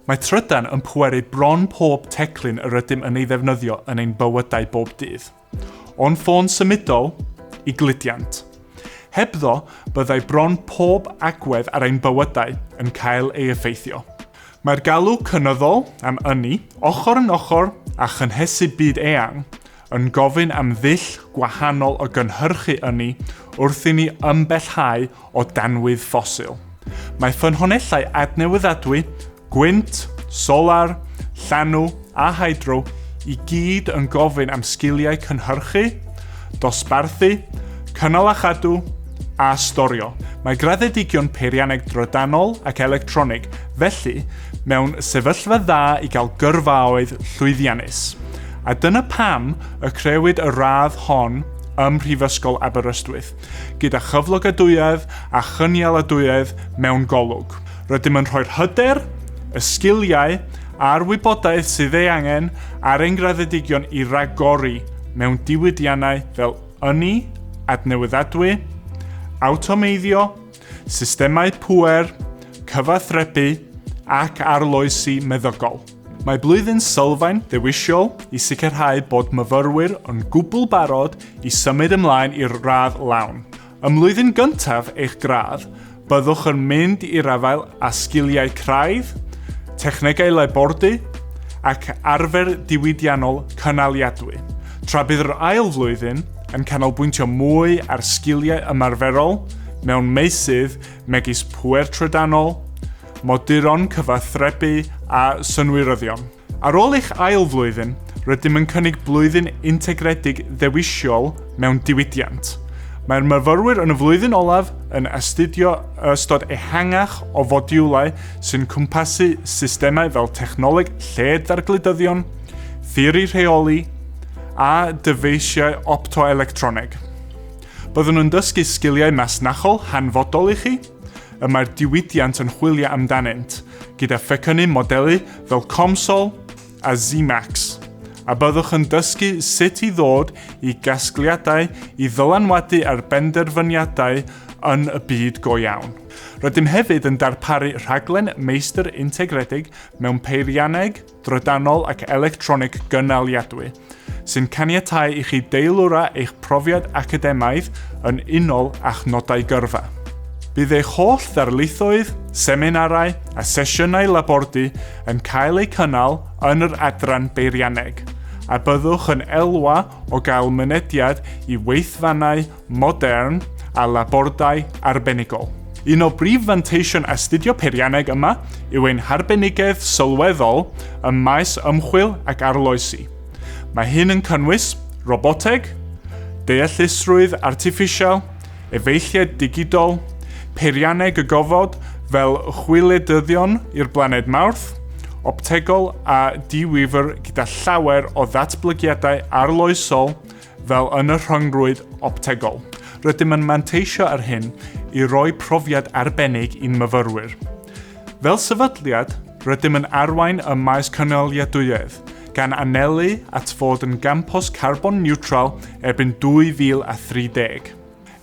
Mae trydan yn pweru bron pob teclyn yr ydym yn ei ddefnyddio yn ein bywydau bob dydd. O'n ffôn symudol i gludiant. Hebddo, byddai bron pob agwedd ar ein bywydau yn cael ei effeithio. Mae'r galw cynyddol am ynni, ochr yn ochr â chynhesu byd eang, yn gofyn am ddull gwahanol o gynhyrchu ynni wrth i ni ymbellhau o danwydd ffosil. Mae ffynhonnellau adnewyddadwy, gwynt, solar, llanw a hydro i gyd yn gofyn am sgiliau cynhyrchu, dosbarthu, cynnal a chadw, a storio. Mae graddedigion peirianneg drydanol ac electronig, felly, mewn sefyllfa dda i gael gyrfaoedd llwyddiannus. A dyna pam y crëwyd y radd hon ym Mhrifysgol Aberystwyth, gyda chyflogadwyedd a chynialadwyedd mewn golwg. Rydym yn rhoi'r hyder, y sgiliau a'r wybodaeth sydd ei angen ar ein graddedigion i ragori mewn diwydiannau fel ynni adnewyddadwy, awtomeiddio, systemau pŵer, cyfathrebu ac arloesi meddygol. Mae Blwyddyn Sylfaen ddewisol i sicrhau bod myfyrwyr yn gwbl barod i symud ymlaen i'r radd lawn. Ym mlwyddyn gyntaf eich gradd, byddwch yn mynd i'r afael â sgiliau craidd, technegau labordy ac arfer diwydiannol cynaliadwy, tra bydd yr ail flwyddyn yn canolbwyntio mwy ar sgiliau ymarferol mewn meysydd megis pŵer trydanol, moduron cyfathrebu a synwyryddion. Ar ôl eich ail flwyddyn, rydym yn cynnig blwyddyn integredig ddewisol mewn diwydiant. Mae'r myfyrwyr yn y flwyddyn olaf yn astudio ystod ehangach o fodiwlau sy'n cwmpasu systemau fel technoleg lled-ddargludyddion, theori rheoli a dyfeisiau optoelectroneg. Byddwn yn dysgu sgiliau masnachol hanfodol i chi, y mae'r diwydiant yn chwilio amdanynt, gyda phecynnu modelu fel COMSOL a ZMAX, a byddwch yn dysgu sut i ddod i gasgliadau i ddylanwadu ar benderfyniadau yn y byd go iawn. Rydym hefyd yn darparu rhaglen meistr integredig mewn peirianneg, drydanol ac electronig gynaliadwy, sy'n caniatau i chi deilwra eich profiad academaidd yn unol â'ch nodau gyrfa. Bydd eich holl ddarlithoedd, seminarau a sesiynau labordy yn cael eu cynnal yn yr adran beirianneg, a byddwch yn elwa o gael mynediad i weithfannau modern a labordai arbenigol. Un o brif fanteision astudio peirianneg yma yw ein harbenigedd sylweddol ym maes ymchwil ac arloesi. Mae hyn yn cynnwys roboteg, deallusrwydd artiffisial, efeilliaid digidol, peirianneg y gofod fel chwiledyddion i'r blaned Mawrth, optegol a di-wifr gyda llawer o ddatblygiadau arloesol fel yn y rhyngrwyd optegol. Rydym yn manteisio ar hyn i roi profiad arbennig i'n myfyrwyr. Fel sefydliad, rydym yn arwain ym maes cynaliadwyedd, gan anelu at fod yn gampws carbon niwtral erbyn 2030.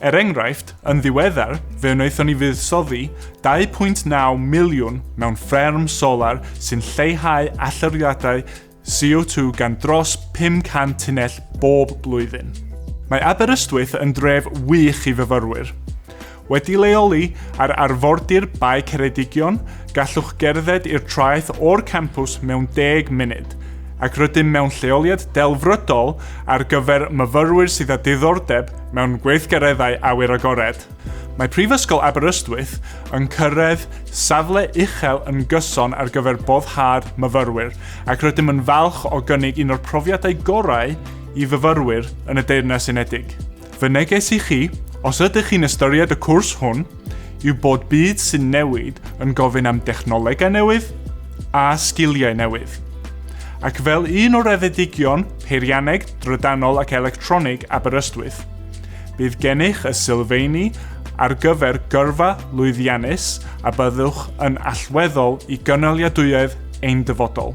Er enghraifft, yn ddiweddar, fe wnaethon ni fuddsoddi 2.9 miliwn mewn fferm solar sy'n lleihau allyriadau CO2 gan dros 500 tunnell bob blwyddyn. Mae Aberystwyth yn dref wych i fyfyrwyr. Wedi leoli ar arfordir Bae Ceredigion, gallwch gerdded i'r traeth o'r campws mewn deg munud, ac rydym mewn lleoliad delfrydol ar gyfer myfyrwyr sydd â diddordeb mewn gweithgareddau awyr agored. Mae Prifysgol Aberystwyth yn cyrraedd safle uchel yn gyson ar gyfer boddhad myfyrwyr ac rydym yn falch o gynnig un o'r profiadau gorau i fyfyrwyr yn y Deyrnas Unedig. Fy neges i chi, os ydych chi'n ystyried y cwrs hwn, yw bod byd sy'n newid yn gofyn am dechnolegau newydd a sgiliau newydd. Ac fel un o raddedigion peirianneg, drydanol ac electronig Aberystwyth, Bydd gennych y sylfeini ar gyfer gyrfa lwyddiannus a byddwch yn allweddol i gynaliadwyedd ein dyfodol.